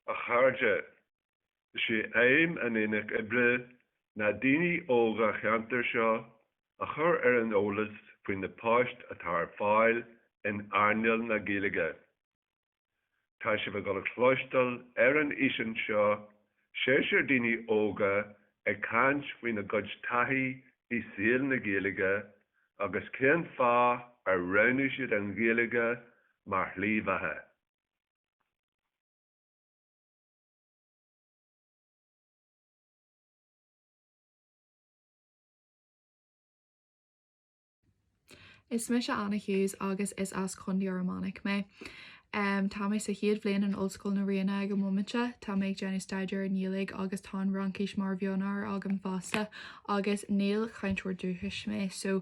A chairde, is é aidhm an Aonach Oibre na daoine óga an cheantair seo a chur ar an eolas faoi na poist atá ar fáil in earnáil na Gaeilge. Tá sibh ag dul a chloisteáil ar an fhíseán seo seisear daoine óga ag caint faoina gcuid taithí i saol na Gaeilge agus cén fáth ar roghnaigh siad an Ghaeilge mar shlí bheatha. Is mise Anna Hughes agus is as Contae Fhear Manach mé. Tá mé sa chéad bhliain in Ollscoil na Ríona ag an mbomaite seo. Tá mé ag déanamh staidéar i nGaeilge agus tá an Fhraincis mar mhionábhar agam fosta agus níl cainteoir dúchais mé so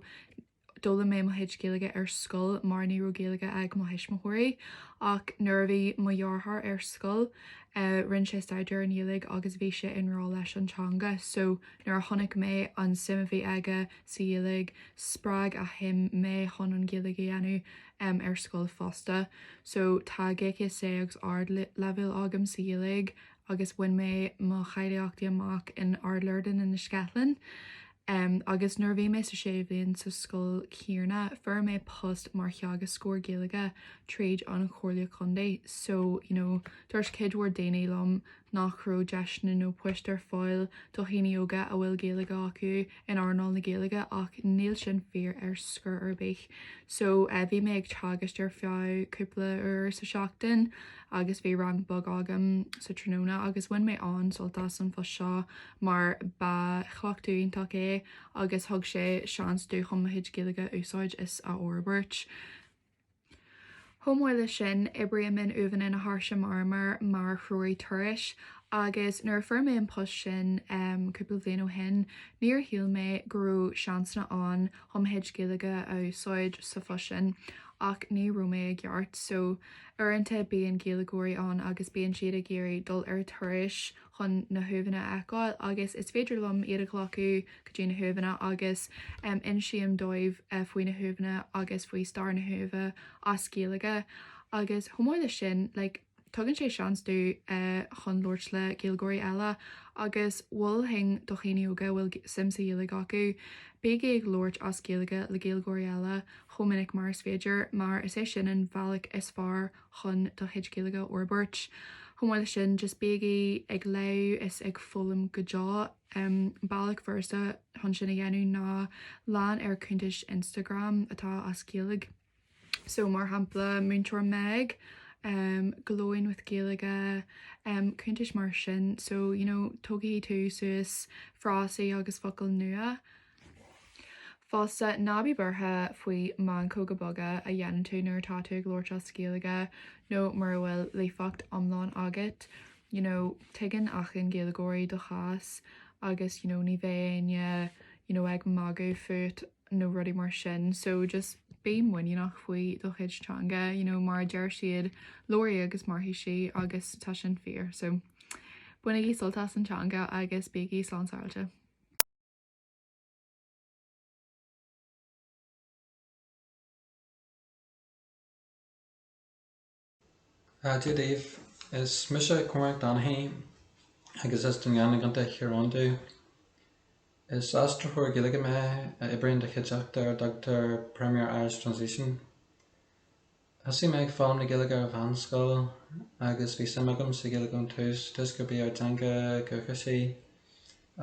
d'fhoghlaim mé mo chuid Gaeilge ar scoil mar ní raibh Gaeilge ag mo thuismitheoirí ach nuair a bhí mo dheartháir ar scoil rinne sé staidéar i nGaeilge agus bhí sé i ngrá leis an teanga so nuair a chonaic mé an suim a bhí aige sa Ghaeilge, spreag a shuim mé chun an Ghaeilge a dhéanamh ar scoil fosta. So tá GCSE agus ardleibhéal agam sa Ghaeilge agus bhain mé mo cháilíochtaí amach in Ard Lourdes in Inis Ceithleann. Agus nuair a bhí mé sa sé bhliain sa scoil chéanna fuair mé post mar theagascóir Gaeilge tríd an Chomhairle Contae so you know dúirt cuid mhór daoine liom nach raibh deiseanna nó poist ar fáil do dhaoine óga a bhfuil Gaeilge acu in earnáil na Gaeilge ach níl sin fíor ar chor ar bith so bhí mé ag teagasc ar feadh cúpla uair sa tseachtain agus bhí rang beag agam sa tráthnóna agus bhain mé an-sult as an phost seo mar ba chleachtadh iontach é agus thug sé seans domh chun mo chuid Gaeilge a úsáid is a fhorbairt. Chomh maith leis sin, oibrím in Uaimheanna na hÁirse Marmair mar threoraí turais agus nuair a fuair mé an post sin cúpla bhliain ó shin, níor shíl mé go raibh seansanna ann chun mo chuid Gaeilge a úsáid sa phost sin ach ní raibh mé i gceart. So, uaireanta bíonn Gaeilgeoirí ann agus bíonn siad ag iarraidh dul ar turais, chun na huamhanna a fheiceáil agus is féidir liom iad a ghlacadh go dtí na huamhanna agus insím dóibh faoi na huamhanna agus faoi stair na huaimhe as Gaeilge agus chomh maith leis sin like tugann sé seans domh chun labhairt le Gaeilgeoirí eile agus mholfainn do dhaoine óga a bhfuil suim sa Ghaeilge acu bígí ag labhairt as Gaeilge le Gaeilgeoirí eile chomh minic mar is féidir mar is é sin an bhealach is fearr chun do chuid Gaeilge a fhorbairt. Chomh maith leis sin, just bígí ag léamh is ag foghlaim go deo. An bealach furasta chun sin a dhéanamh ná lean ar cuntais Instagram atá as Gaeilge. So, mar shampla, Múinteoir Meg, Glowing with Gaeilge, cuntais mar sin. So, you know, tógfaidh tú suas frásaí agus focail nua. Fosta, ná bí buartha faoi mheancóga boga a dhéanann tú nuair atá tú ag labhairt as Gaeilge nó mura bhfuil líofacht iomlán agat, you know, tuigeann achan Gaeilgeoir do chás agus, you know, ní bheidh éinne, you know, ag magadh fút nó rudaí mar sin, so just bí muiníneach faoi do chuid teanga, you know, mar a deir siad, labhair í agus mairfidh sí agus tá sin fíor, so bainigí sult as an teanga agus bígí slán sábhailte. Dia daoibh, is mise Cormac Donaghy agus is de Dhún Geanainn i gContae Thír Eoghain domh. Is aistritheoir Gaeilge mé a oibríonn do chuideachta ar a dtugtar Premier Irish Translation. Thosaigh mé ag foghlaim na Gaeilge ar mheánscoil agus bhí suim agam sa Ghaeilge ón tús toisc gurb í ár dteanga dhúchais í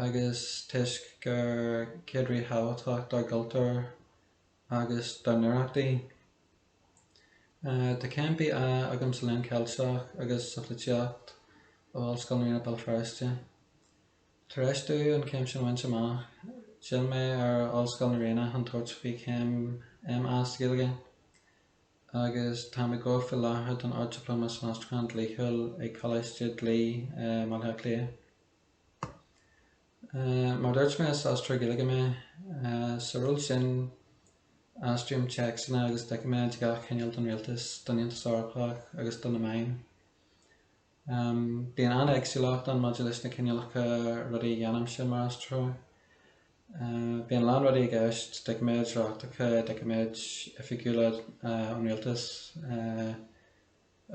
agus toisc gur cuid ríthábhachtach dár gcultúr agus dár n-oidhreacht í. Tá céim BA agam sa Léann Ceilteach agus sa Pholaitíocht ó Ollscoil na Ríona Béal Feirste. Tar éis domh an céim sin bhaint amach, d'fhill mé ar Ollscoil na Ríona chun tabhairt faoi chéim MA sa Ghaeilge, agus táim ag obair faoi láthair don Ard-Dioplóma san Aistriúchán Dlíthiúil ag Coláiste Dlí i mBaile Átha Cliath. Mar a dúirt mé, is Aistritheoir Gaeilge mé. Sa ról sin, aistríom téacsanna agus doiciméid de gach chineál don Rialtas, don Aontas Eorpach agus do na meáin. Bíonn an-éagsúlacht ann maidir leis na cineálacha rudaí a dhéanaimse mar aistritheoir. Bíonn a lán rudaí i gceist, doiciméid reachtacha, doiciméid oifigiúla ón rialtas,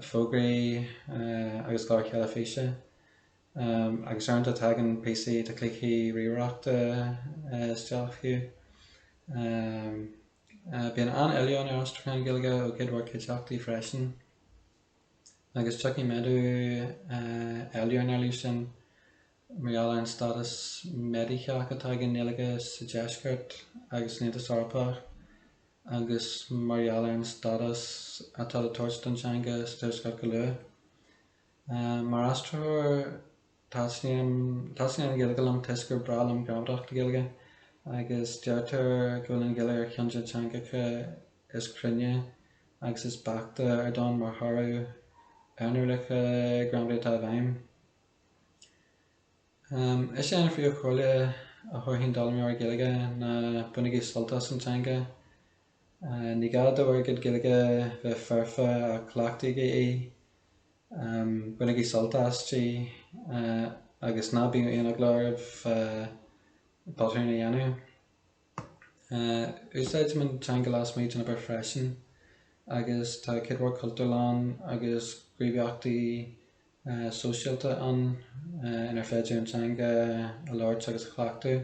fógraí agus cláir theilifíse, agus uaireanta tagann píosaí de chluichí ríomhaireachta isteach fiú. Bíonn an-éileamh ar aistriúcháin Gaeilge ó chuid mhór cuideachtaí freisin. agus tiocfaidh méadú ar an éileamh sin mar gheall ar an stádas méadaithe atá ag an nGaeilge sa deisceart agus san Aontas Eorpach agus mar gheall ar an stádas atá le tabhairt don teanga sa tuaisceart go luath. Mar aistritheoir. Taitníonn an Ghaeilge liom toisc gur breá liom gramadach na Gaeilge agus deirtear go bhfuil an Ghaeilge ar cheann de na teangacha is cruinne agus is beaichte ar domhan mar thoradh ar na rialacha gramadaí atá i bhfeidhm. Is é an phríomhchomhairle a thabharfainn d'fhoghlaimeoirí Gaeilge ná bainigí sult as an teanga. Ní gá do bhur gcuid Gaeilge bheith foirfe ach cleachtaigí í, bainigí sult aisti agus ná bíodh aon eagla oraibh botúin a dhéanamh. Úsáidim an teanga lasmuigh den obair freisin agus tá cuid mhaith cultúrlann agus gníomhaíochtaí sóisialta ann inar féidir an teanga a labhairt agus a chleachtadh.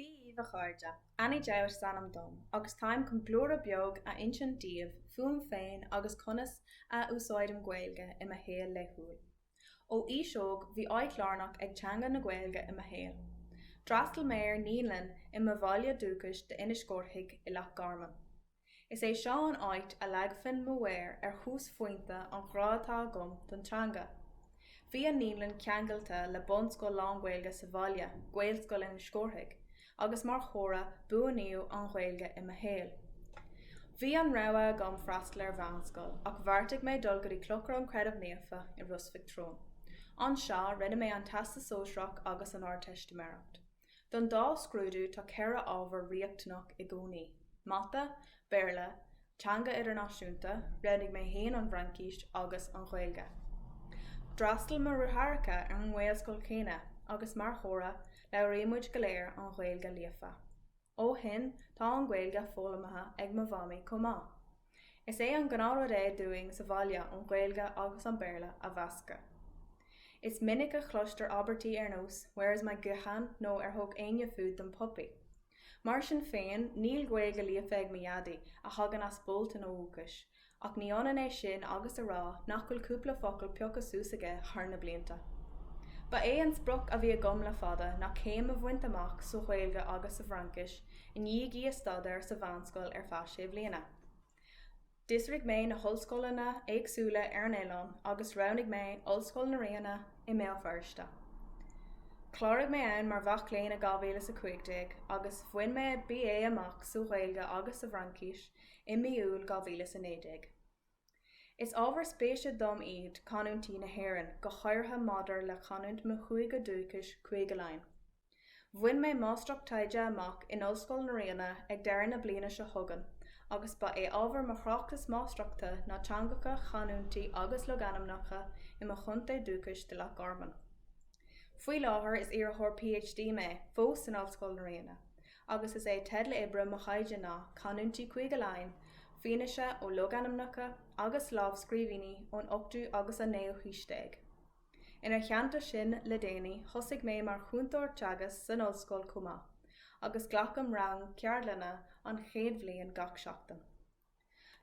Bhuel a chairde, Annie Dowd is ainm dom agus táim chun blúire beag a insint daoibh fúm féin agus conas a úsáidim Gaeilge i mo shaol laethúil. Ó aois óg bhí áit lárnach ag teanga na Gaeilge i mo shaol. D'fhreastal mé ar Naíonlainn i mo bhaile dúchais d'Inis Córthaidh i Loch Garman. Is é seo an áit a leagfainn mo mhéar ar thúsphointe an ghrá atá agam don teanga. Bhí an naíonlann ceangailte le bunscoil lánGhaeilge sa bhaile, Gaelscoil Inis Córthaidh, agus mar thoradh buanaíodh an Ghaeilge i mo shaol. Bhí an rogha agam freastal ar mheánscoil ach bheartaigh mé dul go dtí Clochar an Chreidimh Naofa i Ros Mhic Treoin. Anseo rinne mé an Teastas Sóisearach agus an Ardteistiméireacht. Don dá scrúdú tá ceithre ábhar riachtanach i gcónaí, Mata, Béarla, Teanga Idirnáisiúnta, roghnaigh mé féin an bhFraincís, agus an Ghaeilge. D'fhreastal mo dheartháireacha ar an nGaelscoil chéanna agus mar thoradh labhraímid go léir an Ghaeilge líofa. Ó shin tá an Ghaeilge foghlamtha ag mo mhamaí chomh maith. Is é an gnáthrud é dúinn sa bhaile an Ghaeilge agus an Béarla a mheascadh. Is minic a chloistear abairtí ar nós Where is mo ghuthán nó Ar thug éinne food don puppy? Mar sin féin níl Gaeilge líofa ag mo Dhaidí, a thagann as Bolton ó dhúchas, ach ní ionann é sin agus a rá nach bhfuil cúpla focal pioctha suas aige thar na blianta. Ba é an sprioc a bhí agam le fada ná céim a bhaint amach sa Ghaeilge agus sa bhFraincis, i ndiaidh í a staidéar sa mheánscoil ar feadh sé bhliana. D'fhiosraigh mé na hollscoileanna éagsúla ar an oileán agus roghnaigh mé Ollscoil na Ríona i mBéal Feirste. Chláraigh mé ann mar mhac léinn i 2015 agus bhain mé BA amach sa Ghaeilge agus sa bhFraincís i mí Iúil 2019. Is ábhar spéise dom iad canúintí na hÉireann, go háirithe maidir le canúint mo chúige dúchais, Cúige Laighean. Bhain mé Máistreacht Taighde amach in Ollscoil na Ríona ag deireadh na bliana seo chugainn agus ba é ábhar mo thráchtas máistreachta ná teangacha, canúintí agus logainmneacha i mo chontae dúchais de Loch Garman. Faoi láthair is iarrthóir PhD mé fós in Ollscoil na Ríona agus is é teideal oibre mo thaighde ná Canúintí Chúige Laighean, fianaise ó logainmneacha agus lámhscríbhinní ón ochtú agus an naoú haois déag. Ina theannta sin, le déanaí, thosaigh mé mar chúntóir teagasc san ollscoil chomh maith, agus glacaim rang ceardlainne an chéad bhliain gach seachtain.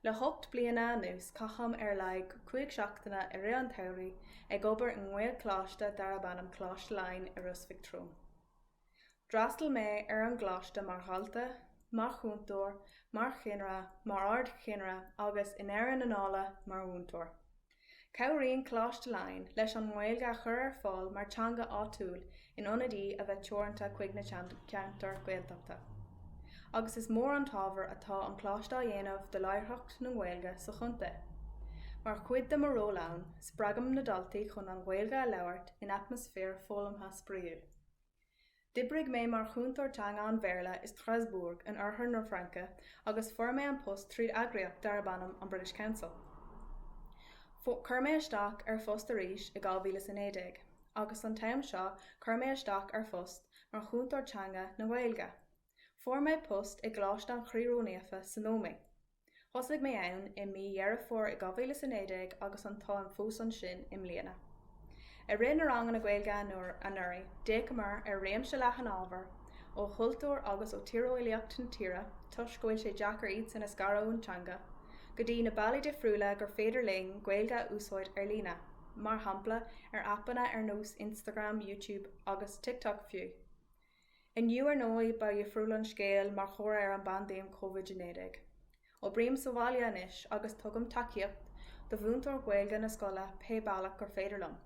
Le hocht bliana anuas caithim ar laghad cúig seachtaine i rith an tsamhraidh ag obair i ngaelcholáiste darab ainm Coláiste Laighean i Ros Mhic Thriúin. D'fhreastail mé ar an gcoláiste mar dhalta, mar chúntóir, mar cheannaire, mar ardcheannaire agus, i ndeireadh na dála, mar mhúinteoir. Cabhraíonn Coláiste Laighean leis an nGaeilge a chur ar fáil mar teanga áitiúil in ionad í a bheith teoranta chuig na ceantair Ghaeltachta. Agus is mór an t-ábhar atá an Coláiste á dhéanamh do láithreacht na Gaeilge sa chontae. Mar chuid de mo ról ann, spreagaim na daltaí chun an Ghaeilge a labhairt in atmaisféar foghlamtha spraíúil. D'oibrigh mé mar chúntóir teanga an Bhéarla i Strasbourg in Oirthear na Fraince agus fuair mé an post tríd eagraíocht darb ainm an British Council. Chuir mé isteach ar phost arís i 2019 agus an t-am seo chuir mé isteach ar phost mar chúntóir teanga na Gaeilge. Fuair mé post i gColáiste an Chroí Ró-Naofa san Ómaigh. Thosaigh mé ann i mí Dheireadh Fómhair 2019 agus an táim fós ansin i mbliana. I rith na ranganna Gaeilge anuraidh, d'fhéachamar ar réimse leathan ábhar ó chultúr agus ó tíreolaíocht an tíre, toisc go bhfuil sé deacair iadsan a scaradh ón teanga, go dtí na bealaí difriúla gur féidir linn Gaeilge a úsáid ar líne, mar shampla ar aipeanna ar nós Instagram, Youtube agus TikTok fiú. Inniu ar ndóigh ba dhifriúil an scéal mar thoradh ar an bpaindéim Covid-19. Oibrím sa bhaile anois agus tugaim tacaíocht do mhúinteoir Gaeilge na scoile pé bealach gur féidir liom.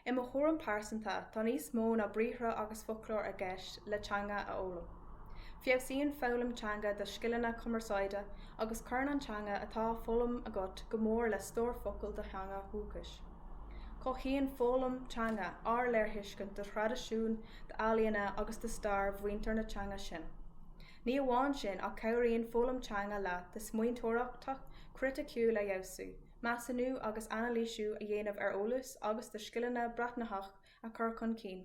I mo thuairim pearsanta tá níos mó ná briathra agus foclóir i gceist le teanga a fhoghlaim. Feabhsaíonn foghlaim teanga do scileanna cumarsáide agus cuireann an teanga atá á foghlaim agat go mór le stór focal do theanga dhúchais. Cothaíonn foghlaim teanga ár léirthuiscint do thraidisiúin, d'ealaíona agus do stair mhuintir na teanga sin. Ní amháin sin ach cabhraíonn foghlaim teanga leat do smaointeoireachta criticiúil a fheabhsú, measúnú agus anailísiú a dhéanamh ar eolas agus do scileanna breathnaitheach a chur chun cinn.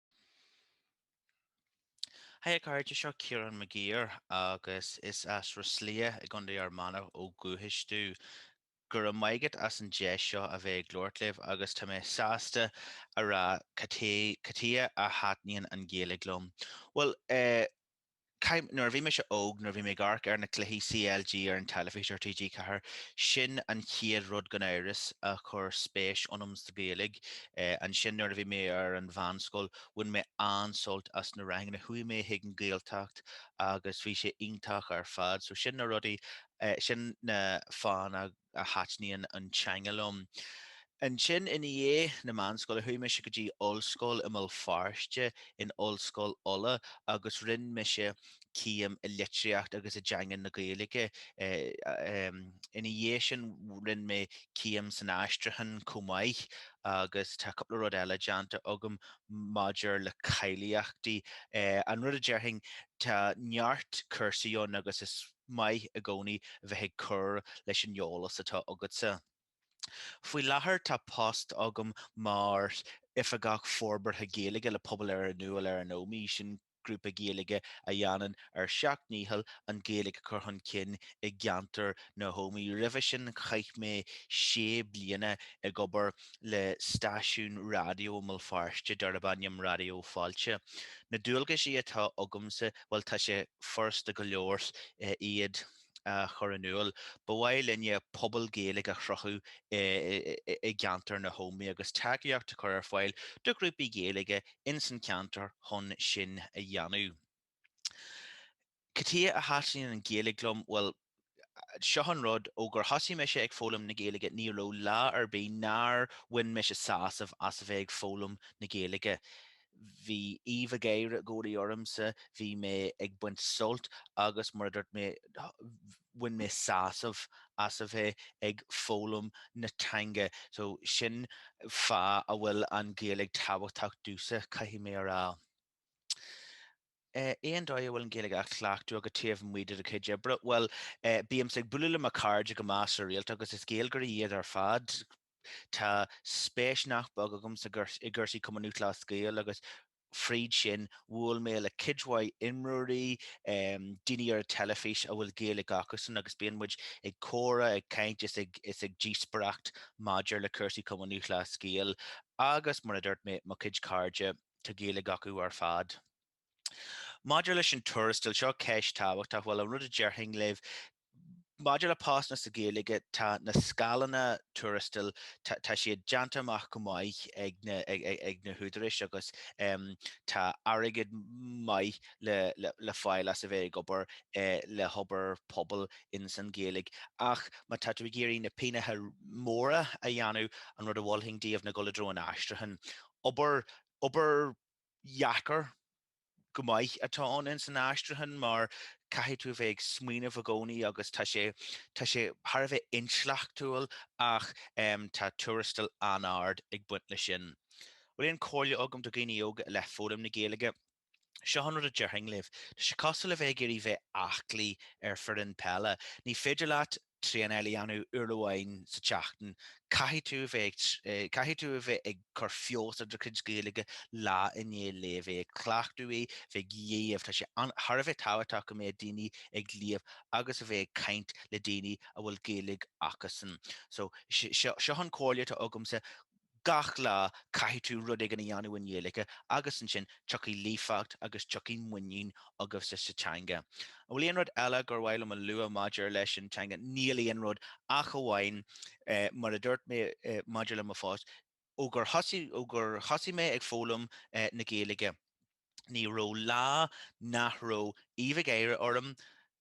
Hi a chairde, seo Ciarán Mag Uidhir agus is as Ros Liath i gContae Fhear Manach ó dhúchas domh. Go raibh maith agat as an deis seo a bheith ag labhairt libh agus tá mé sásta a rá cad chuige a thaitníonn an Ghaeilge liom. Bhuel eh, Chaith, nuair a bhí mise óg, nuair a bhí mé ag amharc ar na cluichí CLG ar an teilifís ar TG4, sin an chéad rud gan amhras a chuir spéis ionam sa Ghaeilge. Ansin nuair a bhí mé ar an mheánscoil, bhain mé an-sult as na ranganna. Chuaigh mé chuig an Ghaeltacht agus bhí sé iontach ar fad. So sin na rudaí, sin na fáthanna. a thaitníonn an teanga liom. Ansin ina dhiaidh na meánscoile chuaigh mise go dtí ollscoil i mBéal Feirste, in Ollscoil Uladh, agus rinne mise céim i litríocht agus i dteanga na Gaeilge. Ina dhiaidh sin rinne mé céim san aistriúchán chomh maith agus tá cúpla rud eile déanta agam maidir le cáilíochtaí. An rud a déarfainn, tá neart cúrsaí ann agus is. maith i gcónaí bheith ag cur leis an eolas atá agatsa. Faoi láthair tá post agam mar Oifigeach Forbartha Gaeilge le Pobal ar a'n Iúl ar an Ómaigh, sin grúpa Gaeilge a dhéanann ár seacht ndícheall an Ghaeilge a chur chun cinn i gceantar na hÓmaí. Roimhe sin chaith mé sé bliana ag obair. le stáisiún raidió i mBéal Feirste darb ainm Raidió Fáilte. Na dualgaisí atá agamsa, bhuel tá sé furasta go leor iad a chur in iúl. Ba mhaith linne pobal Gaeilge a chruthú i gceantar na hÓmaí agus tacaíocht a chur ar fáil do ghrúpaí Gaeilge ins an cheantar chun sin a dhéanamh. Cad chuige a thaitníonn an Ghaeilge liom? Bhuel, seo an rud, ó gur thosaigh mise ag foghlaim na Gaeilge ní raibh lá ar bith nár bhain mise sásamh as a bheith ag foghlaim na Gaeilge. Bhí aoibh an gháire i gcónaí ormsa, bhí mé ag baint sult agus mar a dúirt mé bhain mé sásamh as a bheith ag foghlaim na teanga so sin fáth a bhfuil an Ghaeilge tábhachtach domhsa, caithfidh mé a rá. Cén dóigh a bhfuil an Ghaeilge á chleachtadh agat taobh amuigh de do chuid oibre? Bhuel, bímse ag bualadh le mo chairde go measartha rialta agus is Gaeilgeoirí iad ar fad. Tá spéis nach beag agamsa i gcúrsaí Chumann Lúthchleas Gael agus fríd sin bhuail mé le cuid mhaith imreoirí, daoine ar an teilifís a bhfuil Gaeilge acusan agus bíonn muid ag comhrá, ag caint is ag díospaireacht maidir le cúrsaí Chumann Lúthchleas Gael agus, mar a dúirt mé, mo chuid cairde. Tá Gaeilge acu ar fad. Maidir leis an tuarastal, seo ceist tábhachtach, bhuel, an rud a déarfainn libh, maidir le postanna sa Ghaeilge, tá na scáileanna tuarastail, tá siad déanta amach go maith ag na húdaráis agus tá airgead maith le fáil as a bheith ag obair le hobair pobail ins an Ghaeilge. Ach má tá tú ag iarraidh na pínneacha móra a dhéanamh, an rud a mholfainn daoibh ná dul i dtreo an aistriúcháin. Obair, obair dheacair go maith atá ann ins an aistriúchán mar caithfidh tú a bheith ag smaoineamh i gcónaí agus tá sé, tá sé thar a bheith intleachtúil ach em tá tuarastal an-ard ag baint leis sin. Bhfuil aon chomhairle agam do dhaoine óga i leith foghlaim na Gaeilge, Seo an rud a déarfainn libh. Tá sé cosúil le bheith ag iarraidh bheith aclaí ar foireann peile. Ní féidir leat traenáil a dhéanamh uair amháin sa tseachtain. Caithfidh tú a bheith ag, caithfidh tú a bheith ag cur feabhas ar do chuid Gaeilge lá i ndiaidh lae, a bheith ag cleachtadh í, bheith ag léamh, tá sé an, thar a bheith tábhachtach go mbeadh daoine ag léamh agus a bheith ag caint le daoine a bhfuil Gaeilge acusan. So, seo, seo an comhairle atá agamsa. Gach lá caithfidh tú rud éigin a dhéanamh i nGaeilge agus ansin tiocfaidh líofacht agus tiocfaidh muinín agus sa teanga. An bhfuil aon rud eile gur mhaith liom a lua maidir leis an teanga? Níl aon rud ach amháin mar a dúirt mé maidir le mo phost, ó gur thosaigh, ó gur thosaigh mé ag foghlaim na Gaeilge ní raibh lá nach raibh aoibh an gháire orm.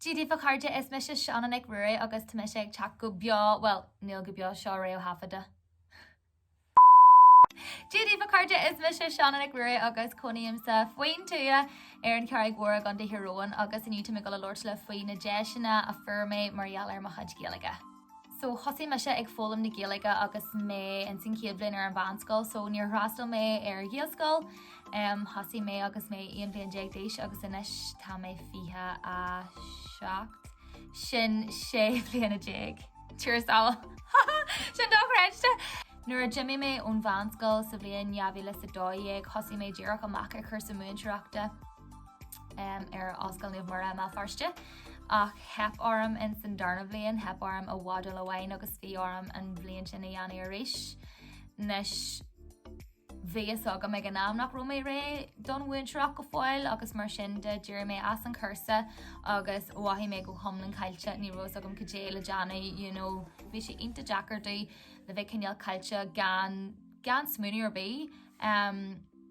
Dia daoibh a chairde is mise Seanán Mac Ruairí agus tá mise ag teacht go beo, bhuel, níl go beo, seo réamhthaifeadta. Dia daoibh a chairde is mise Seanán Mac Ruairí agus cónaímse faoin tuath ar an Charraig Mhór i gContae Thír Eoghain agus inniu táim ag dul a labhairt libh faoi na deiseanna a fuair mé mar gheall ar mo chuid Gaeilge. So thosaigh mise ag foghlaim na Gaeilge agus mé ins an chéad bhliain ar an mheánscoil so níor fhreastail mé ar Ghaelscoil. Thosaigh mé agus mé 11 bhliain d'aois agus anois tá mé 27, sin 16 bhliana. A Thiarna! Ha ha! Sin dochreidte! Nuair a d'imigh mé ón mheánscoil sa bhliain 2012 thosaigh mé díreach amach ar chúrsa múinteoireachta. ar Ollscoil Naomh Muire i mBéal Feirste ach theip orm in san darna bhliain theip orm i modúl amháin agus bhí orm an bhliain sin a dhéanamh arís nois bhí a fhios agam ag an am nach raibh mé réidh don mhúinteoireacht go fóill agus mar sin de d'éirigh mé as an chúrsa agus mhothaigh mé go hiomlán caillte ní raibh a fhios agam cad é le déanamh you know bhí sé iontach deacair déileáil le bheith cineál caillte gan gan smaoineamh ar bith. Um,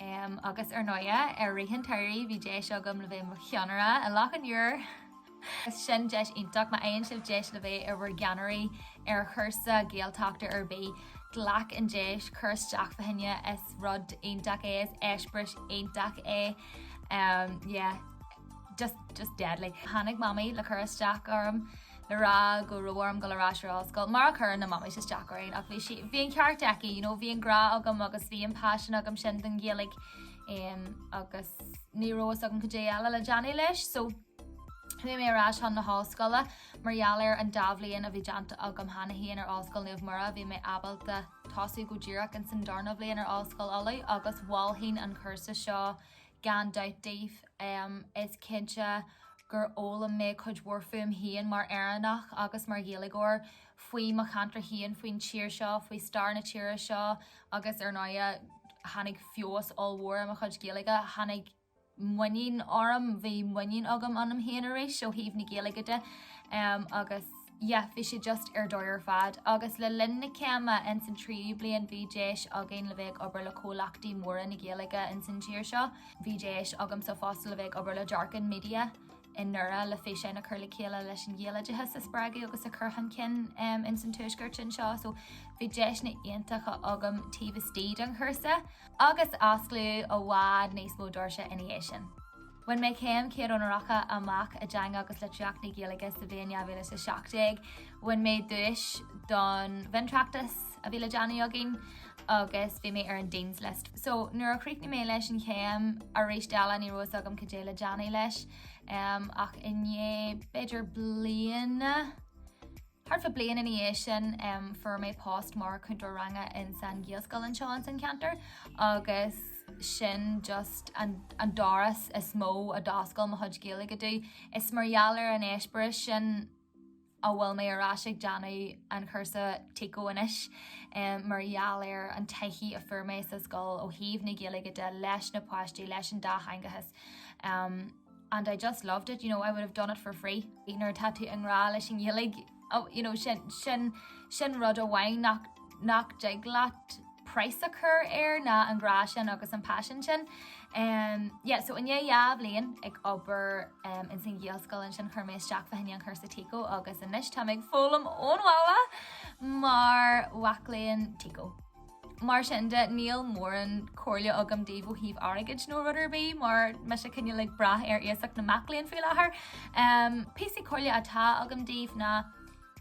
Um, agus ar ndóighe, i rith an tsamhraidh, bhí deis agam le bheith mo cheannaire i Loch an Iúir. Is sin deis iontach má fhaigheann sibh deis le bheith in bhur gceannairí ar chúrsa Gaeltachta ar bith. Glac an deis, cur isteach fá choinne, is rud iontach é, is eispéireas iontach é. Um, yeah, just, just deadly. Tháinig mamaí le cur isteach orm. le rá go raibh orm dul ar ais ar ollscoil mar a chuireann na mamaís isteach orainn ach bhí sí, bhí an ceart aici you know, bhí an grá agam agus bhí an passion agam sin don Ghaeilge em agus ní raibh fhios agam cad é eile le déanamh leis so Chuaigh mé ar ais chun na hollscoile mar gheall ar an dá bhliain a bhí déanta agam cheana féin ar Ollscoil Naomh Muire bhí mé ábalta tosú go díreach ins an darna bhliain ar Ollscoil Uladh agus mholfainn an cúrsa seo Gan dabht daoibh, is cinnte gur fhoghlaim mé cuid mhór fúm féin mar Éireannach agus mar Ghaeilgeoir, faoi mo cheantar féin, faoin tír seo, faoi stair na tíre seo agus ar ndóighe tháinig feabhas ollmhór ar mo chuid Gaeilge, tháinig muinín orm, bhí muinín agam ionam féin arís ó thaobh na Gaeilge de agus. yeah bhí sé just ar dóigh ar fad agus le linn na céime ins an tríú bliain bhí deis againn le bheith ag obair le comhlachtaí móra na Gaeilge ins an tír seo. Bhí deis agamsa fosta le bheith ag obair le Dearcán Media i nDoire le físeáin a chur le chéile leis an Ghaeloideachas a spreagadh agus a cur chun cinn ins an tuaisceart anseo so bhí deiseanna iontacha agam taobh istigh den chúrsa agus osclaíodh i bhfad níos mó doirse ina dhiaidh sin. Bhain mé céim chéad onóracha amach i dTeanga agus Litríocht na Gaeilge sa bhliain 2017. Bhain mé duais don mhiontráchtas a bhí le déanamh againn agus bhí mé ar an Dean's List. So nuair a chríochnaigh mé leis an chéim arís eile ní raibh fhios agam cad é le déanamh leis um, ach i ndiaidh b'fhéidir bliana Thart fá bliain ina dhiaidh sin fuair mé post mar chúntóir ranga ins an Ghaelscoil anseo ins an ceantar agus sin just an doras is mó a d'oscail mo chuid Gaeilge domh. Is mar gheall ar an eispéireas sin a bhfuil mé ar ais ag déanamh an chúrsa TICO anois mar gheall ar an taithí a fuair mé sa scoil ó thaobh na Gaeilge de leis na páistí, leis an dátheangachas. and I just loved it, you know, I would have done it for free. Nuair atá tú i ngrá leis an Ghaeilge, you know, sin, sin, sin rud amháin nach, nach dtig leat praghas a chur air ná an grá sin agus an passion sin. Um, yeah, so i ndiaidh dhá bhliain ag obair um, ins an Ghaelscoil ansin chuir mé isteach fá choinne an chúrsa TICO agus anois tá mé ag foghlaim ón bhaile mar mhac léinn TICO. Mar sin de, níl mórán comhairle agam daoibh ó thaobh airgid nó rud ar bith mar mise cineál ag brath ar iasacht na mac léinn faoi láthair. Um, píosaí comhairle atá agam daoibh ná,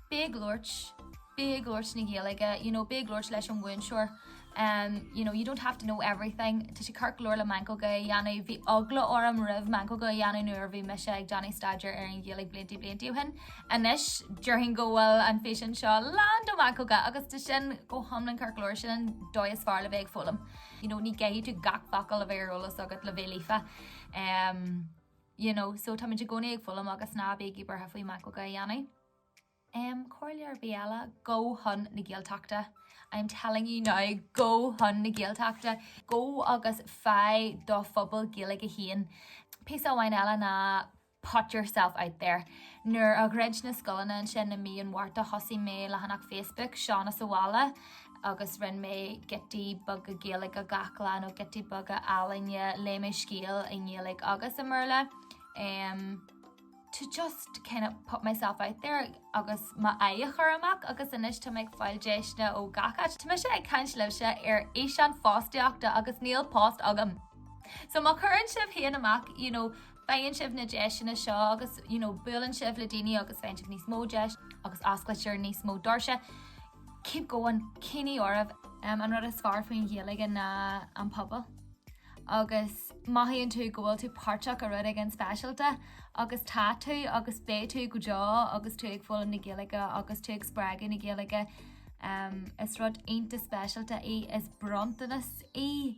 Bí ag labhairt, bí ag labhairt na Gaeilge, you know, bí ag labhairt leis an mhúinteoir. Um, you know, you don't have to know everything. Tá sé ceart go leor le meancóga a dhéanamh, bhí eagla orm roimh meancóga a dhéanamh nuair a bhí mise ag déanamh staidéir ar an Ghaeilge blianta blianta ó shin. Anois, déarfainn go bhfuil an físeán seo lán de mheancóga agus tá sin go hiomlán ceart go leor, sin an dóigh is fearr le bheith ag foghlaim. You know, ní chaithfidh tú gach focal a bheith ar eolas agat le bheith líofa. Um, you know, so tá muid i gcónaí ag foghlaim agus ná bígí buartha faoi meancóga a dhéanamh. Um, Comhairle ar bith eile gabh chun na Gaeltachta. I'm telling you now gabh chun na Gaeltachta, gabh agus faigh do phobal Gaeilge féin. Píosa amháin eile ná put yourself out there. Nuair a dhruid na scoileanna ansin i mí an Mhárta thosaigh mé leathanach Facebook Seán sa Bhaile agus rinn mé giotaí beaga Gaeilge gach lá nó giotaí beaga ealaíne, léigh mé scéal i nGaeilge agus i mBéarla em to just kind of put myself out there agus m'aghaidh a chur amach agus anois tá mé ag fáil deiseanna ó gach áit. Tá mise ag caint libhse ar fhíseán fostaíochta agus níl post agam. So má chuireann sibh féin amach you know Faigheann sibh na deiseanna seo agus, you know, buaileann sibh le daoine agus faigheann sibh níos mó deis agus osclaítear níos mó doirse. Keep going, coinnígí oraibh! An rud is fearr faoin Ghaeilge ná an pobal. Agus mothaíonn tú go bhfuil tú páirteach i rud éigin speisialta agus tá tú agus beidh tú go deo agus tú ag foghlaim na Gaeilge agus tú ag spreagadh na Gaeilge, is rud iontach speisialta í, is bronntanas í.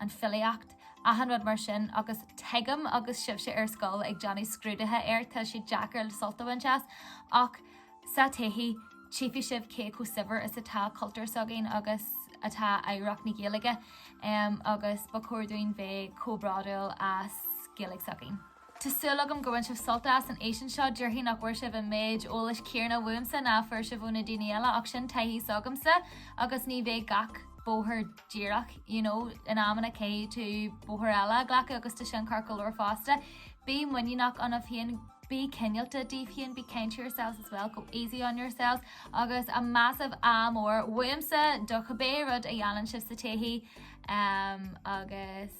an filíocht, achan rud mar sin agus tuigim agus sibhse ar scoil ag déanamh scrúduithe air tá sé deacair sult a bhaint as ach sa todhchaí tchífidh sibh cé chomh saibhir is atá cultúr s'againn agus atá oidhreacht na Gaeilge agus ba chóir dúinn bheith chomh bródúil as Gaeilge s'againn. Tá súil agam gur bhain sibh sult as an fhíseán seo. Déarfainn nach bhfuair sibh an méid eolais céarna uaimse ná a fuair sibh ó na daoine eile ach sin taithí s'agamsa agus ní bheidh gach bóthar díreach. You know, in amanna caithfidh tú bóthar eile a ghlacadh agus tá sin ceart go leor fosta. Bí muiníneach ionaibh féin, bí cineálta daoibh féin, be kind to yourselves as well, go easy on yourselves agus a massive ádh mór uaimse do chibé rud a dhéanann sibh sa todhchaí um, agus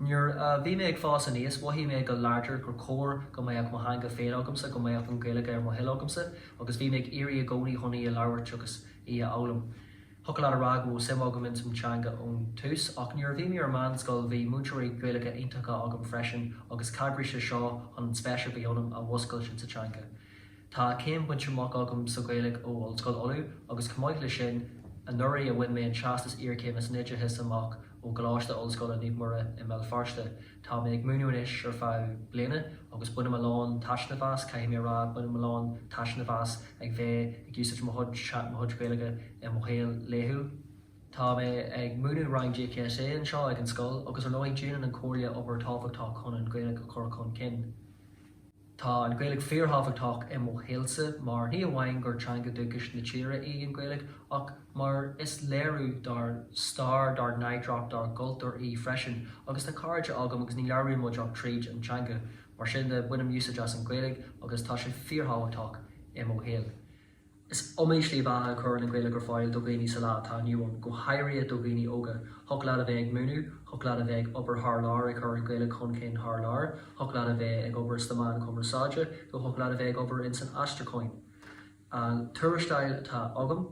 Nuair a bhí mé ag fás aníos, mhothaigh mé go láidir gur chóir go mbeadh mo theanga féin agamsa, go mbeadh an Ghaeilge ar mo thoil agamsa agus bhí mé ag iarraidh i gcónaí chun í a labhairt agus í a fhoghlaim. Thiocfadh leat a rá go raibh suim agam ins an teanga ón tús ach nuair a bhí mé ar meánscoil bhí múinteoirí Gaeilge iontacha agam freisin agus chabhraigh sé seo chun an spéis a bhí ionam a mhúscailt insa teanga. Tá céim bainte amach agam sa Ghaeilge ó Ollscoil Uladh agus chomh maith leis sin, anuraidh bhain mé an Teastas Iarchéime san Oideachas amach ó Choláiste Ollscoile Naomh Muire i mBéal Feirste. Tá mé ag múineadh anois ar feadh bliana agus bainim a lán taitneamh as, caithfidh mé a rá, bainim a lán taitneamh as ag bheith ag úsáid mo chuid Gaeilge i mo shaol laethúil. Tá mé ag múineadh rang GCSE anseo ag an scoil agus ar ndóigh déanann an Comhairle obair tábhachtach chun an Ghaeilge a chur chun cinn. Tá an Ghaeilge fíorthábhachtach i mo shaolsa mar ní amháin gur teanga dúchais na tíre í an Ghaeilge ach mar is léiriú dár stair, dár n-oidhreacht, dár gcultúr í freisin agus tá cairde agam agus ní labhraíonn muid ach tríd an teanga. Mar sin de, bainim úsáid as an Ghaeilge agus tá sé fíorthábhachtach i mo shaol. Is iomaí slí bheatha a chuireann an Ghaeilge ar fáil do dhaoine sa lá atá inniu ann, go háirithe do dhaoine óga. Thiocfadh leat a bheith ag múineadh, thiocfadh leat a bheith ag obair thar lear ag cur an Ghaeilge chun cinn thar lear, thiocfadh leat a bheith ag obair sna meáin chumarsáide nó thiocfadh leat a bheith ag obair ins an aistriúchán. An tuarastal atá agam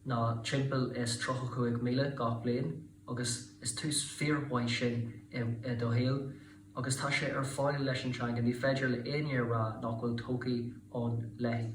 ná timpeall is tríocha cúig míle gach bliain agus is tús fíormhaith sin i do shaol agus tá sé ar fáil leis an teanga, ní féidir le éinne a rá nach bhfuil todhchaí ann léithi.